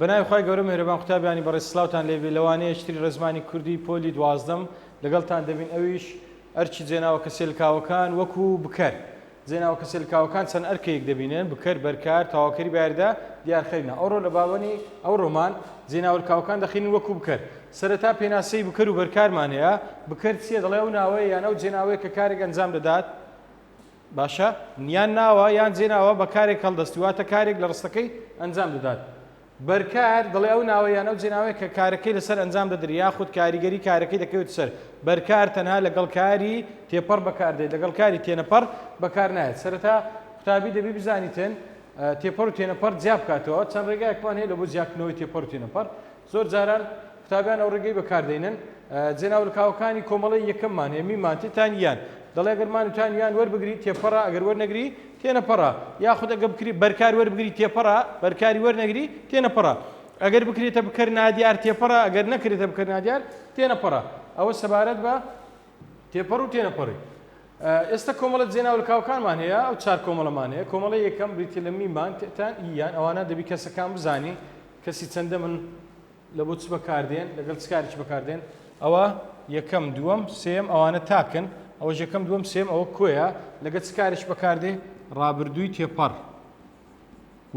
بەناوی خی گەورە مێرەبان قوتابیانی بەڕێ سلااوان لێبی لەوانەیە شتری ڕزمانی کوردی پۆلی دوازدەم لەگەڵتان دەبین ئەویش ئەرکی جێناوە کەسێلکاوەکان، وەکو، بکەر، جێناوە کەسێلکاوەکان چەند ئەرکێیک دەبینن، بکەر، بەرکار، تەواوکەری بایردە، دیارخەرینە. ئەوڕۆ لە باوەنی ئەو ڕۆمان، جێناوەلکاوەکان دەخینن وەکو، بکەر. سەرەتا پێناسەی بکەر و بەرکارمان هەیە، بکەر چییە؟ دەڵێ ئەو ناوەیە یان ئەو جێناوەیە کە کارێک ئەنجام دەدات. باشە، یان ناوە یان جێناوە بە کارێک هەڵدەستی، واتە کارێک لە ڕستەکەی ئەنجام دەدات. بەرکار، دەڵێ ئەو ناوە یان ئەو جێناوەیە کە کارەکەی لەسەر ئەنجام دەدرێ یاخود کاریگەری کارەکەی دەکەوێتە سەر بەرکار تەنها لەگەڵ کاری تێپەڕ بەکاردێت لەگەڵ کاری تێنەپەڕ بەکارنایەت سەرەتا قوتابی دەبی بزانیتن تێپەڕ و تێنەپەڕ جیابکاتەوە چەند ڕێگایەکمان هەیە لە بۆ جیاکردنەوەی تێپەڕ و تێنەپەڕ زۆر جاران قوتابیان ئەو ڕێگەی بەکار دەینن جناو لە کاوەکانی کۆمەڵەی یەکەم مان هەیە میمان تێ تان یان دەڵێ گەر مان تان یان وەربگری تێپەڕە ئەگەر وەرنەگری تێنەپەڕە یاخود ئەگە بکری بەرکار وەربگری تێپەڕە بەرکاری وەرنەگری تێنەپەڕە ئەگەر بکرێتە بکەر نادیار تێپەڕە ئەگەر نەکرێتە بکەر نادیار تێنەپەڕە ئەوە سەبارەت بە تێپەڕ و تێنەپەڕی ئێستا کۆمەڵە جێناولکاوکانمان هەیە ئەو چار کۆمەڵەمان هەیە کۆمەڵی یەکەم بریتی لە میمان تێتان یان ئەوانە دەبی کەسەکان بزانی کەسی چەندە من لە بۆ چ بەکاردێن لەگەڵ چ کارێکی بەکاردێن ئەوە یەکەم دووەم سێم ئەوانە تاکن ئەوە یەکەم دووەم سێم ئەوە کۆیە لەگەڵ چ کارێک بەکاردێ ڕابردووی تێپەڕ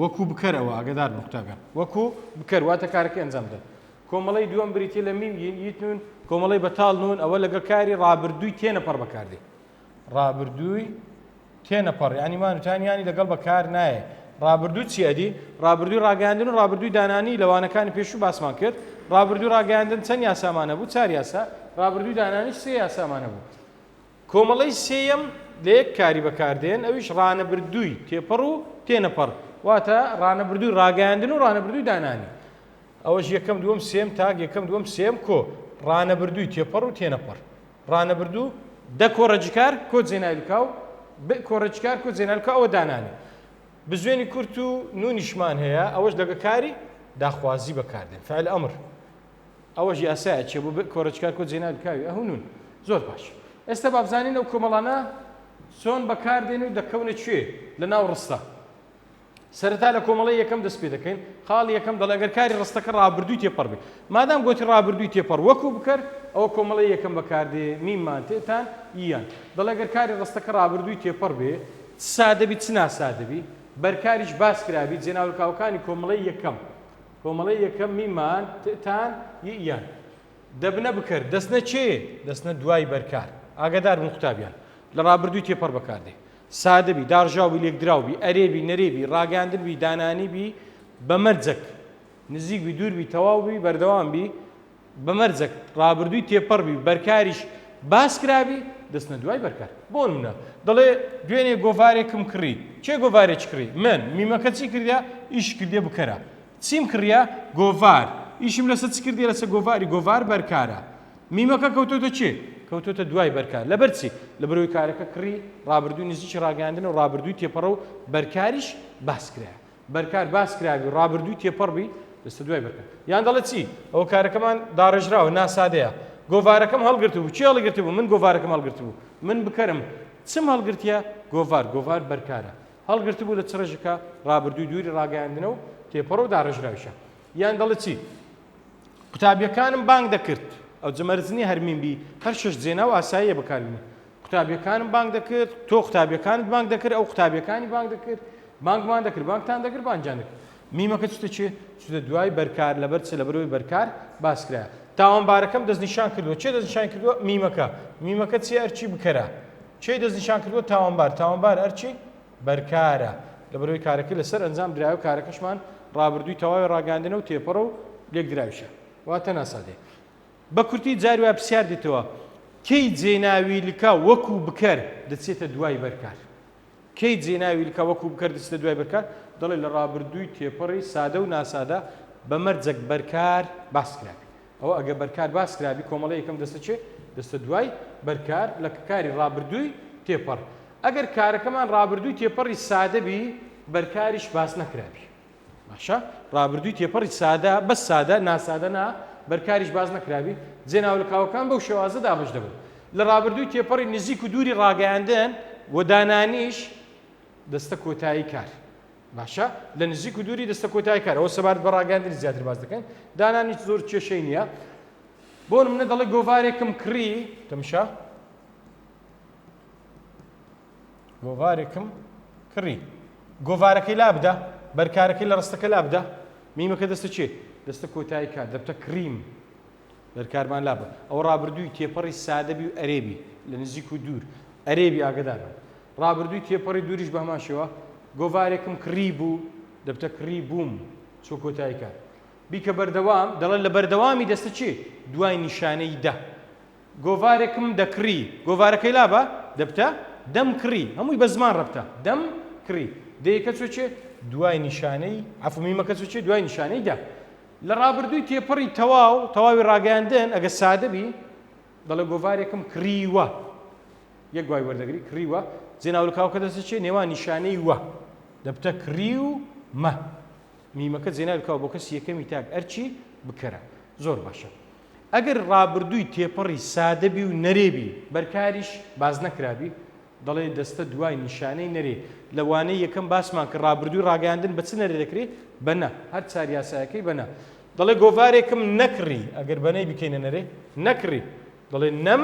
وەکو بکەرەوە ئەگەدار نقطەکە وەکو بکەر واتە کارەکە ئەنجام بدەن کۆمەڵی دووەم بریتە لە میم یین یتنون کۆمەڵی بەتاڵ نون ئەوە لەگە کاری ڕابردووی تێنە پەڕ بەکاردێ ڕابردووی تێنەپەڕی ینی مان وتان ینی لەگەڵ بەکار نایە ڕابردوو چی ئەدی ڕابردووی ڕاگەاندن و ڕابردووی دانانی لەوانەکانی پێشوو باسمان کرد ڕابردوو ڕاگەاندن چەند یاسامانە بوو چار یاسا ڕابردووی دانانی سێ یاسامانە بوو کۆمەڵی سێەم لە یەک کاری بەکاردێن ئەویش ڕانەبردووی تێپەڕ و تێنەپەڕ واتە ڕانەبردووی ڕاگەاندن و ڕانەبردووی دانانی ئەوەش یەکەم دووەم سێم تاک یەکەم دووەم سێم کۆ ڕانەبردووی تێپەڕ و تێنەپەڕ ڕانەبردوو، دە کۆڕە جکار کۆ جێناویل کاو، بئ کۆڕە جکار کۆ جێناویل کاو ئەوە دانانێ بزوێنی کورت و نوونیشمان هەیە ئەوەش لەگە کاری داخوازی بەکار دێن فعل امر ئەوەش یاسایە چێ بۆ بئ کۆڕە جکار کۆ جێناویل کاوی ئه و نوون زۆر باش ئێستا با بزانین ئەو کۆمەڵانە چۆن بەکار دێن و دەکەونە کوێ لە ناو ڕستە سەرەتا لە کۆمەڵەی یەکەم دەست پێ دەکەین، خاڵی یەکەم دەڵێ گەر کاری ڕستەکە ڕابردووی تێپەڕ بێت. مادام گۆتی ڕابردووی تێپەڕ وەکوو بکەر، ئەوە کۆمەڵەی یەکەم بەکار دێ، میم مان تئ تان ی یان. دەڵێ گەر کاری ڕستەکە ڕابردووی تێپەڕ بێ، چ سادە بی چ ناسادە بی، بەرکاریش باس کرا بی، جێناولکاوەکانی کۆمەڵەی یەکەم، کۆمەڵەی یەکەم میم مان تئ تان ی یان. دەبنە بکەر، دەچنە چێ؟ دەچنە دوای بەرکار. ئاگادار بن قوتابیان، لە ڕابردووی تێپەڕ بەکار دێ. سادە بی، داڕژاو بی، لێکدراو بی، ئەرێ بی، نەرێ بی، ڕاگەیاندن بی، دانانی بی، بە مەرجەک نزیک بی، دوور بی، تەواو بی، بەردەوام بی، بە مەرجەک ڕابردووی تێپەڕ بی و بەرکاریش باس کرا بی، دەچنە دوای بەرکار. بۆ نموونە، دەڵێ، دوێنێ گۆڤارێکم کڕی. کێ گۆڤارێکی کڕی؟ من. میمەکە چی کردیە؟ ئیشی کردیە بکەرە. چیم کڕیە؟ گۆڤار. ئیشم لەسەر چ کردیە؟ لەسەر گۆڤاری. گۆڤار بەرکارە. میمەکە کەوتۆتە چێ؟ کەوتۆتە دوای بەرکار لەبەر چی؟ لەبەر ئەوەی کارەکە کڕی ڕابردووی نزیکی ڕاگەیاندنە و ڕابردووی تێپەڕە و بەرکاریش باس کرایە. بەرکار باس کرابی و ڕابردووی تێپەڕ بی دەچتە دوای بەرکار. یان دەڵێت چی؟ ئەوە کارەکەمان داڕێژراوە نا سادەیە. گۆڤارەکەم هەڵگرتبوو. کێ هەڵیگرتبوو؟ من گۆڤارەکەم هەڵگرتبوو. من بکەرم. چم هەڵگرتیە؟ گۆڤار. گۆڤار بەرکارە. هەڵگرتبوو لە چ ڕێژەکە؟ ڕابردووی دووری ڕاگەیاندنە و تێپەڕە و داڕێژراویشە. یان دەڵێت چی؟ قوتابیەکانم بانگ دەکرد ئەوجە مەرج نییە هەر میم بی هەر شەش جێناو ئاساییە بەکاربینی قوتابیەکانم بانگ دەکرد تۆ قوتابیەکانت بانگ دەکرد ئەو قوتابیەکانی بانگ دەکرد بانگمان دەکرد بانگتان دەکرد بانجان دەکرد میمەکە چتە چێ چتە دوای بەرکار لەبەر چ لەبەرەوەی بەرکار باسکرا تاوانبارەکەم دەستنیشان کردووە چێ دەستنیشان کردووە میمەکە میمەکە چی ئەرچی بکەرە چی دەستنیشان کردووە تاوانبار تاوانبار ئەرچی بەرکارە لەبەرئەوەی کارەکە لەسەر ئەنجام درایە و کارەکەشمان ڕابردووی تەواوی ڕاگەیاندنە و تێپەڕە و لێکدراویشە واتە ناسادەیە. بە کورتی جاری وایە پرسیار دێتەوە کەی جێناوی لکە وەکوو بکەر دەچێتە دوای بەرکار؟ کەی جێناوی لکە وەکوو بکەر دەچێتە دوای بەرکار؟ دەڵێت لە ڕابردووی تێپەڕی سادە و ناسادە بە مەرجەک بەرکار باس کرابێت. ئەوە ئەگەر بەرکار باس کرابی کۆمەڵە یەکەم دەستە چێ دەستە دوای بەرکار لە کاری ڕابردووی تێپەڕ ئەگەر کارەکەمان ڕابردووی تێپەڕی سادەبی بەرکاریش باس نەکرابی باشە ڕابردووی تێپەڕی سادە بە سادە ناسادە نا بەرکاریش باز نەکراوی جێناو لە کاوەکان بەو شێوازە دابش دەبن لە ڕابردووی تێپەڕی نزیک و دووری ڕاگەیاندن و دانانیش دەستە کۆتایی کار باشە لە نزیک و دووری دەستە کۆتای کارەوە سەبارەت بە ڕاگەاندنی زیاتر باز دەکەن دانانیش زۆر کێشەی نییە بۆ منە دەڵێ گۆوارێکم کڕی تەمشا گۆوارێکم کڕی گۆوارەکەی لا بدە بەرکارەکەی لە ڕستەکە لا بدە میمەکە دەستە چێ دەستە کۆتایی کات دەبتە کریم بەرکارمان لابە ئەو ڕابردووی تێپەڕی سادەبی و ئەرێبی لە نزیک و دوور ئەرێبی ئاگدارە ڕابردووی تێپەڕی دووریش بە هەمان شێوە، گۆڤارێکم کڕیبوو، دەبتە کڕیبووم، چووە کۆتایی کار. بیکە بەردەوام، دەڵێت لە بەردەوامی دەستە چێ، دوای نیشانەی دە. گۆڤارێکم دەکڕی، گۆڤارەکەی لابە، دەبتە، دەمکڕی، هەمووی بە زمان ڕەبتە، دەم کڕی. دەیەکە چووە چێ، دوای نیشانەی، عەفو، میمەکە چووە چێ، دوای نیشانەی دە. لە ڕابردووی تێپەڕی تەواو، تەواوی ڕاگەیاندن، ئەگەر سادە بی، دەڵێ گۆڤارێکم کڕیوە یەک گوای وەردەگری کڕیوە جێناولکاوکە دەستی چێ نێوان نیشانەی وە دەبتە کڕی و مە میمەکە جێناولکاو بۆ کەسی یەکەمی تاک ئەرچی بکەرە زۆر باشە ئەگەر ڕابردووی تێپەڕی سادەبی و نەرێبی بەرکاریش باز نەکرابی دەڵێ دەستە دوای نیشانەی نەرێ لەوانەیە یەکەم باسمان کە ڕابردووی ڕاگەاندن بە چ نەرێ دەکرێت بەنە هەر چار یاسایەکەی بەنە دەڵێ گۆڤارێکم نەکڕی، ئەگەر بەنەی بکەینە نەرێ، نەکڕی. دەڵێ نەم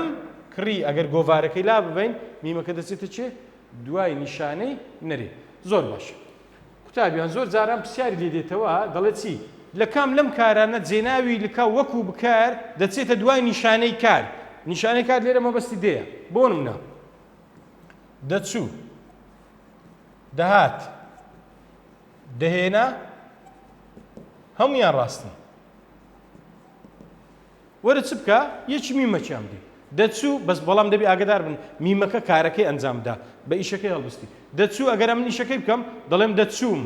کڕی، ئەگەر گۆڤارەکەی لاببەین، میمەکە دەچێتە چێ؟ دوای نیشانەی نەرێ. زۆر باش. قوتابیان، زۆر جاران پرسیاری لێ دێتەوە، دەڵێ چی؟ لە کام لەم کارانە جێناوی لکا وەکوو بکار دەچێتە دوای نیشانەی کار؟ نیشانەی کار لێرە مەبەستی دێیە. بۆ نموونە، دەچوو، دەهات، دەهێنا هەمویان ڕاستن وەرە چ بکە یەکی میمەکیان بدی دەچوو بەس بەڵام دەبی ئاگدار بن میمەکە کارەکەی ئەنجامدا بە ئیشەکەی هەڵبستی دەچوو ئەگەر ئەم نیشەکەی بکەم دەڵێم دەچووم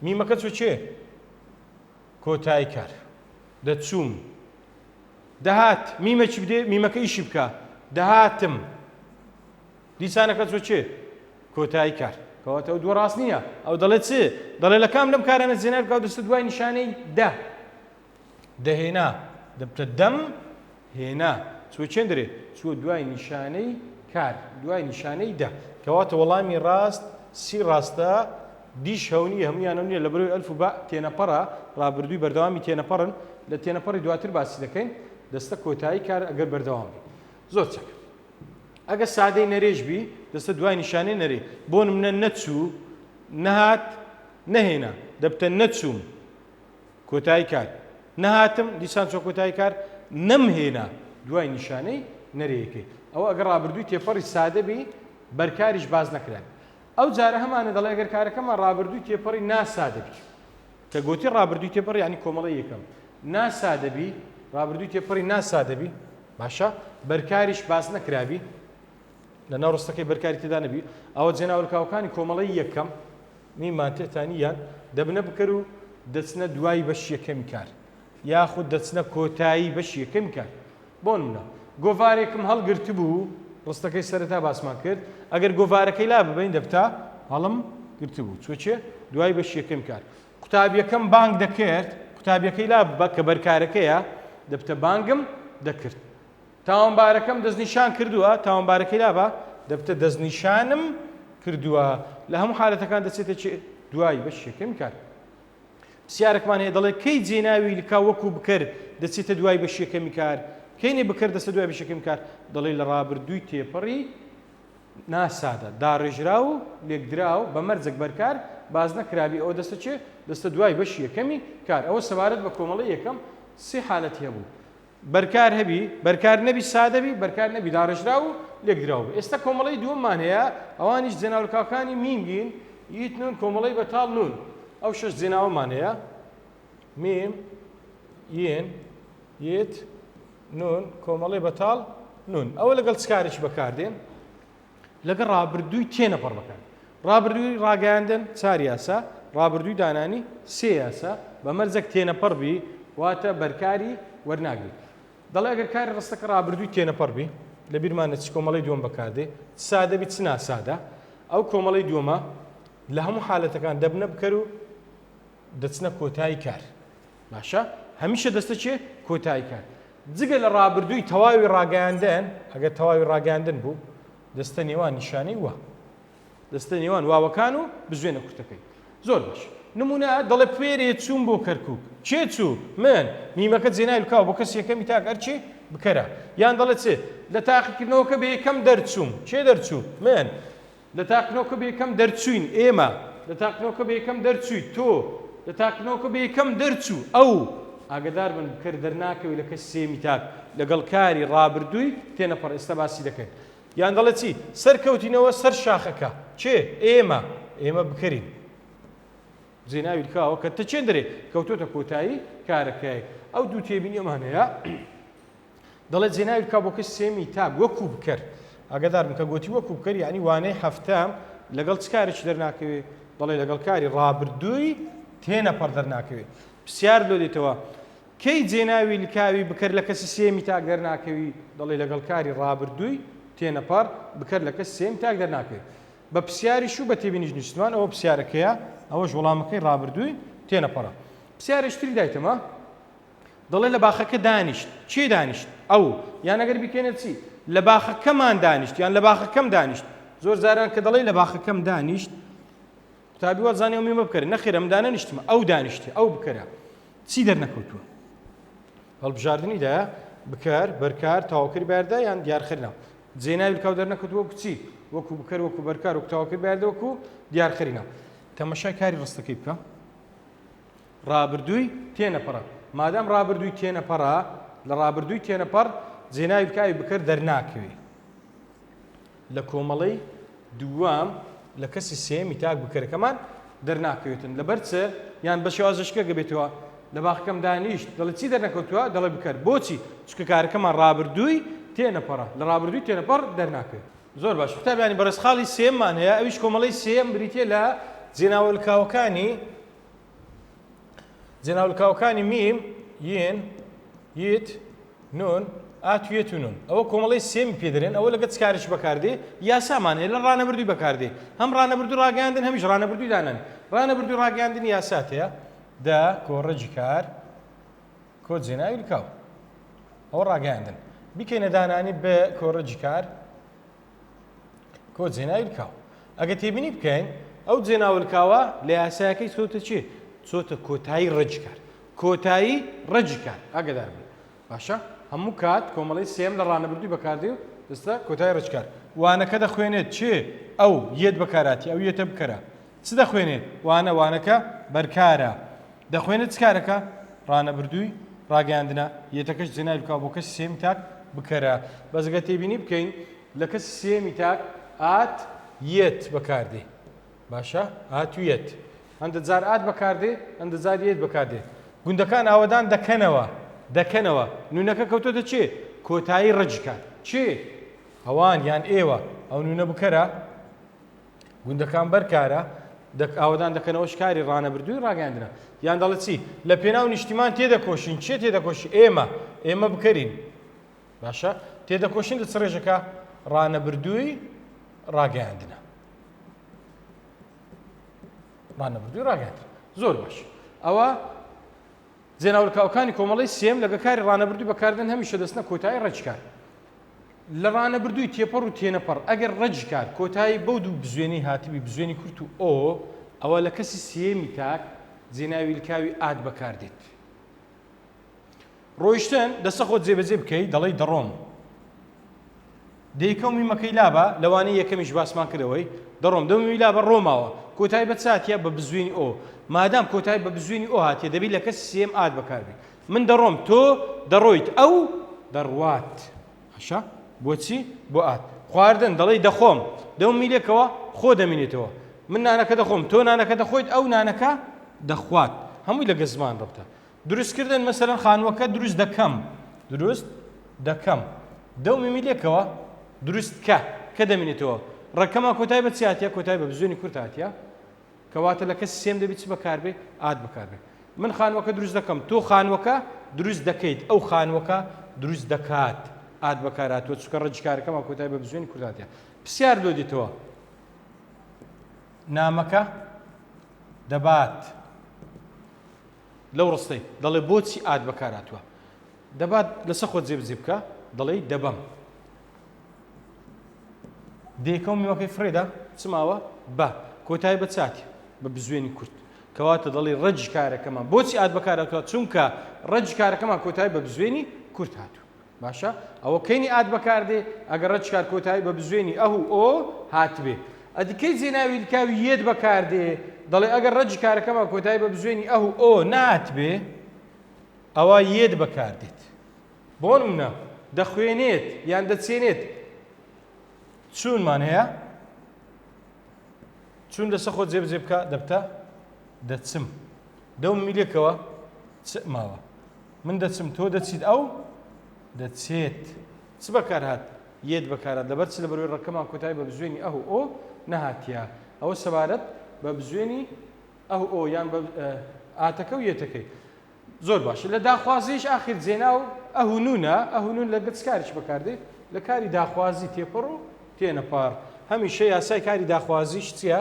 میمەکە چۆ چێ کۆتایی کار دەچووم دەهات میمەکی بدێ میمەکە ئیشی بکە دەهاتم دیسانەکە چۆ چێ؟ کۆتایی کار. کەواتە ئەو دووە ڕاست نییە. ئەو دەڵێت چێ؟ دەڵێ لە کام لەم کارانە زێنار بکە و دەستت دوای نیشانەی دە. دەهێنا. دەبتە دەم هێنا. چۆ چێندرێ؟ چووە دوای نیشانەی کار. دوای نیشانەی دە. کەواتە وەڵامی ڕاست سی ڕاستە دیش هەونی هەمویانە نیە لە بەرۆی ئەلف و بە تێنەپەڕە ڕابردووی بەردەوامی تێنەپەڕن لە تێنەپەڕی دواتر باسی دەکەین دەستە کۆتایی کار ئەگەر بەردەوام بی زۆر چاک. ئەگەر سادەی نەرێش بی دەستە دوای نیشانەی نەرێ بۆ نمونە نەچوو نەهات نەهێنا دەبتە نەچووم کۆتایی کات نەهاتم دیسان چۆ کۆتایی کار نەمهێنا دوای نیشانەی نەرەیەکەی ئەو ئەگە ڕابردووی تێپەڕی سادەبی بەرکاریش باز نەکرێت ئەو جارە هەمانە دەڵێ گەر کارەکەمان ڕابردووی تێپەڕی ناسادە بچوو کە گۆتی ڕابردووی تێپەڕ یانی کۆمەڵەی یەکەم نا سادەبی، ڕابردووی تێپەڕی نا سادەبی، باشە بەرکاریش باس نەکرابی، لە ناو ڕستەکەی بەرکاری تێدا نەبی، ئەوە جێناولکاوەکانی کۆمەڵەی یەکەم ی مانتئتانی یان دەبنە بکەر و دەچنە دوای بەشی یەکەمی کار یاخود دەچنە کۆتایی بەشی یەکەمی کار. بۆنمونە گۆڤارێکم هەڵگرتبوو، ڕستەکەی سەرەتا باسمان کرد، ئەگەر گۆڤارەکەی لاببەین دەبتە، هەڵم گرتبوو. چۆچێ دوای بەشی یەکەمی کار. قوتابیەکەم بانگ دەکرد، قوتابیەکەی لاببە، کە بەرکارەکەیە، دەبتە بانگم دەکرد. تاوانبارەکەم دەستنیشان کردووە، تاوانبارەکەی لابە، دەبتە دەستنیشانم کردووە. لە هەموو حالەتەکان دەچێتە چی؟ دوای بەشی یەکەمی کار. پسیارەکمان هەیە دەڵێ کەی جێ ناوی لکا وەکو بکەر دەچێتە دوای بەشی یەکەمی کار کەینێ بکەر دەسە دوای بەشی یەکەمی کار دەڵێ لە ڕابردووی تێپەڕی ناسادە داڕێژرا و لێکدرا و بە مەرجەک بەرکار باز نەکرابی ئەوە دەستە چێ دەستە دوای بەشی یەکەمی کار ئەوە سەبارەت بە کۆمەڵی یەکەم سێ حالەتی هەبوو بەرکار هەبی، بەرکار نەبی، سادە بی، بەرکار نەبی، داڕێژراو و لێکدراو بی. ئێستا کۆمەڵەی دووەممان هەیە، ئەوانیش جێناولکاوکانی میم بین، یت نون، کۆمەڵەی بەتاڵ نون. ئەو شەش جێناوەمان هەیە، میم، ین، یت، نون، کۆمەڵەی بەتاڵ نون. ئەوە لەگەڵ چ کارێکی بەکاردێن؟ لەگەڵ ڕابردووی تێنەپەڕ بکات. ڕابردووی ڕاگەیاندن چار یاسا، ڕابردووی دانانی سێ یاسا بە مەرجەک تێنەپەڕ بی واتە بەرکاری وەرناگری. دەڵێ ئەگەر کاری ڕستەکە ڕابردووی تێنەپەڕ بی، لە بیرمانە چ کۆمەڵەی دووەم بەکار دێ، چ سادە بی چ ناسادە، ئەو کۆمەڵەی دووەمە لە هەموو حالەتەکان دەبنە بکەر و دەچنە کۆتای کار. باشە هەمیشە دەستە چێ کۆتای کار جگە لە ڕابردووی تەواوی ڕاگەیاندن ئەگەر تەواوی ڕاگەاندن بوو دەستە نێوان نیشانەی وە دەستە نێوان واوەکان و بزوێنە کورتەکەی زۆر باش نمونە دەڵێ پێرێ چوون بۆ کەرکک چێ چوو من میمەکە جێنای بکاو بۆ کەس یەکەمی تاک ئەرچێ بکەرە یان دەڵێت چێ لە تاقیکردنەوەکە بە یەکەم دەرچووم چێ دەرچوو من لە تاقنۆکە بەیەکەم دەرچووین، ئێمە. لە تاقنۆکە بەیەکەم دەرچوویت، تۆ. لە تاقنۆکە بەیەکەم دەرچوو، ئەو. ئاگەداربن بکەر دەرناکەوێت لە کەش سێیەمی تاک لەگەڵ کاری ڕابردووی تێنەپەڕ ئێستا باسی دەکەین. یان دەڵێت چی؟ سەرکەوتینەوە سەر شاخەکە. کێ؟ ئێمە. ئێمە بکەرین. جێناوی لکاوە کە تەچێندرێ کەوتۆتە کۆتایی کارەکەی. ئەو دوو تێبینیەمان هەیە. دەڵێت جێناوی بکە بۆ کچ سێمی تاک وەکو بکەر ئاگادار بکە گۆتی وەکو بکەر یانی وانەی هەفتە لەگەڵ چ کارێکی دەرناکەوێ دەڵێ لەگەڵ کاری ڕابردووی تێنەپەڕ دەرناکەوێ پرسیار لۆ دێتەوە کەی جێناوی لکاوی بکەر لە کەسی سێمی تاک دەرناکەوی دەڵێ لەگەڵ کاری ڕابردووی تێنەپەڕ بکەر لە کەس سێم تاک دەرناکەوێ بە پرسیاریش و بە تێبینیش نیشتمان ئەوە پرسیارەکەیە ئەوەش وەڵامەکەی ڕابردووی تێنەپەڕە پرسیارشتری دایتەمە دەڵێ لە باخەکە دانیشت. کێ دانیشت؟ ئەو. یان ئەگەر بیکەینە چی؟ لە باخەکەمان دانیشت یان لە باخەکەم دانیشت. زۆر جاران کە دەڵێ لە باخەکەم دانیشت، قوتابی وا زانێ میمە بکەرە. نەخێر ئەم دانەنیشتمە، ئەو دانیشتی، ئەو بکەرە. چی دەرنەکەوتووە؟ هەڵبژاردنی دا بکار بەرکار تاواکەری بەردە یان دیارخرنا جێناوی کاو دەرنەکەوت وەکو چی وەکو بکەر وەکو بەرکار و تاواکەری بەردە وەکو دیارخرینا تەمەشای کاری ڕستەکەی بکە ڕابردووی تێنەپەڕە مادام ڕابردووی تێنەپەڕە لە ڕابردووی تێنەپەڕ جێناوی بکە ئەوی بکەر دەرناکەوێ لە کۆمەڵەی دووەم لە کەسی سێمی تاک بکەرەکەمان دەرناکەوێتن لەبەر چ یان بە شێوازشکە گەبێتەوە لە باخەکەم دانیشت دەڵێ چی دەرنەکەوتووە دەڵێ بکەر بۆچی چکە کارەکەمان ڕابردووی تێنەپەڕە لە ڕابردووی تێنەپەڕ دەرناکەوێت زۆر باش قوتابیانی بەڕێز خاڵی سێممان هەیە ئەویش کۆمەڵەی سێم بریتە لە جێناوە لکاوەکانی جێناولکاوەکانی میم یین یت نون ئاتوێت و نون ئەوە کۆمەڵی سێمی پێدرێن ئەوە لەگە چکارش بەکاردێ یاسامان هەیە لە ڕانەبردووی بەکاردێ هەم ڕانەبردو ڕاگەاندن هەمیش ڕانەبردووی دانن ڕانەبردوو ڕاگەاندنی یاسات هەیە دە کۆڕەجی کار کۆ جێناوی کاو ئەوە ڕاگەاندن بیکەینە دانانی بە کۆڕەجی کار کۆ جێناوی لکاو ئەگە تێبینی بکەین ئەو جێناوە لکاوە لە یاسایەکەی چۆتە چێ چۆتە کۆتایی ڕجکار کۆتایی ڕجکار ئەگەدار بێت باشە هەموو کات کۆمەڵی سێم لە ڕانەبردوی بەکاردێ و ئێستا کۆتای ڕجکار وانەکە دەخوێنێت چێ ئەو یەت بەکاراتی ئەو یەتە بکەرە چ دەخوێنێت؟ وانە، وانەکە بەرکارە. دەخوێنێت چ کارەکە؟ ڕانەبردووی ڕاگەیاندنە. یەتەکەش جێناوی بکەوە بۆ کەسی سێیەمی تاک، بکەرە. بەس گەر تێبینی بکەین لە کەسی سێیەمی تاک ئات، یەت بەکار دێ. باشە؟ ئات و یەت. هەندە جار ئات بەکار دێ، هەندە جار یەت بەکار دێ. گوندەکان ئاوەدان دەکەنەوە. دەکەنەوە. نوونەکە کەوتۆتە چێ؟ کۆتایی ڕەجیکان. چێ؟ ئەوان یان ئێوە. ئەو نوونە بکەرە. گوندەکان بەر کارە ئاوەدان دەکەنەوە شکاری ڕانەبردووی ڕاگەاندرا یان دەڵێت چی لە پێناو نیشتیمان تێدەکۆشین چێ تێدەکۆش ئێمە ئێمە بکەین باشە تێدەکۆشین لە چڕێژەکە ڕانەبردووی ڕاگەاندنە ڕانەبردووی ڕاگەاند زۆر باش ئەوە جێناولکاوکانی کۆمەڵی سێم لەگە کاری ڕانەبردوو بەکاردن هەمیشە دەستنە کۆتایی ڕێچکار لە ڕانەبردووی تێپەڕ و تێنەپەڕ ئەگەر ڕەجیکار کۆتایی بەو دوو بزوێنەی هاتبی بزوێنی کورت و ئۆ ئەوا لە کەسی سێیەمی تاک جێناوی لکاوی ئات بەکاردێت ڕۆیشتن دەسە خۆت جێبەجێ بکەی دەڵی دەڕۆم دەیکەومی مەکەی لابە لەوانەیە یەکەمیش باسمان کردەوەی دەڕۆم دەمی لابە ڕۆماوە کۆتای بە چاتە بە بزوێنی ئەو مادام کۆتای بە بزوێنی ئەو هااتێ دەبی لە کەس سێم ئات بەکاربی من دەڕۆم تۆ دەڕۆیت ئەو دەڕوات باشە بۆچی بۆ ئات خواردن دەڵی دەخۆم دەو میلێکەوە خۆ دەمینێتەوە من نانەکە دەخۆم تۆ نانەکە دەخۆیت ئەو نانەکە دەخوات هەمووی لەگە زمان ڕبتە دروستکردن مەسەرەن خانووەکە دروست دەکەم دروست دەکەم دەو میمی لێکەوە دروست کە کە دەمینێتەوە ڕەکەمە کۆتای بە چاتە کۆتای بە بزوێنی کورتاتە کەواتە لە کەسی سێم دەبی چ بەکاربێ ئاد بەکاربێ من خانوەکە دروست دەکەم تۆ خانوەکە دروست دەکەیت ئەو خانوەکە دروست دەکات ئاد بەکاراتوە چکە ڕجکارەکەمان کۆتای بە بزوێنی کورداتە پرسیار لۆ دیتەوە نامەکە دەبات لەو ڕستەی دەڵێ بۆچی ئات بەکارهاتووە دەبات لەسە خۆ جێبجێ بکە دەڵێی دەبەم دێکەم میوەکەی فرێدا چماوە بە کۆتای بە چاتی بە بزوێنی کورت کەواتە دەڵی ڕەج کارەکەمان بۆچی ئات بەکارەکە چونکە ڕەج کارەکەمان کۆتای بە بزوێنی کورت هاتوو باشە ئەوە کەینی ئات بەکاردێ ئەگەر ڕەچکار کۆتایی بە بزوێنی ئه و ئۆ هاتبێ ئەدی کەی جێناوی لکاوی یێت بەکاردێ دەڵێ ئەگەر ڕەجی کارەکەمان کۆتایی بە بزوێنی ئه و ئۆ ناتبێ ئەوە یێت بەکاردێت بۆن منە دەخوێنێت یان دەچێنێت چونمان هەیە چون لەسە خۆ جێبجێ بکە دەبتە دەچم دو میلەکەوە چ ماوە من دەچم تۆ دەچیت ئەو دەچێت چ بەکار هات یەت بەکارە دەبەر چ لە بەروی ڕەکەمان کۆتای بە بزوێنی ئەو ئۆ نەهاتە ئەوە سەبارەت بە بزوێنی ئەو ئۆ یان ئاتەکە و یەتەکەی زۆر باش لە داخوازیش ئاخر جێنا و ئەهونونە ئەهونون لە گەچکاریش بەکاردێ لە کاری داخوازی تێپەڕ و تێنەپار هەمیشە یاسای کاری داخوازیش چییە؟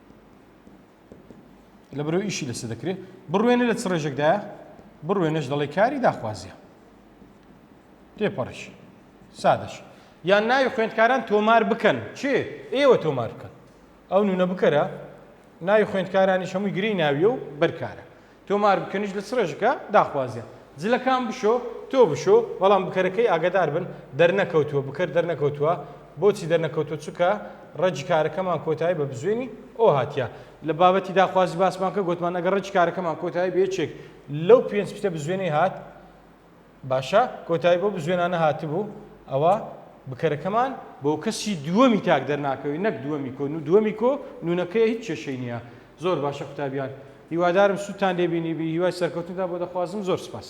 لە بەرەو ئیشی لەسە دەکرێت بڕوێنە لە چ ڕێژێکدایە بڕوێنەش دەڵێ کاری داخوازیە تێپەڕش سادەش یان ناوی خوێندکاران تۆمار بکەن چێ ئێوە تۆمار بکەن ئەو نونە بکەرە ناوی خوێندکارانی هەمووی گرێی ناویە و بەرکارە تۆمار بکەنیش لە چ ڕێژەکە داخوازیان. جلەکان بشۆ تۆ بشۆ بەڵام بکەرەکەی ئاگادار بن دەرنەکەوتووە بکەر دەرنەکەوتووە بۆچی دەرنەکەوتووە چونکە ڕەگی کارەکەمان کۆتایی بە بزوێنی ئۆ هاتیە لە بابەتی داخوازی باسمان کرد گۆتمان ئەگەر ڕەگی کارەکەمان کۆتایی بە یەکێک لەو پێنج پتە بزوێنەی هات باشە کۆتایی بەو بزوێنانە هاتبوو ئەوا بکەرەکەمان. بۆ کەسی دووەمی تاک دەرناکەوی نەک دووەمی کۆ دووەمی کۆ نونەکەیە هیچ کێشەی نیە زۆر باشە قوتابیان هیوادارم سوودتان لێ بینیبی هیوای سەرکەوتنتان بۆ دەخوازم زۆر سپاس.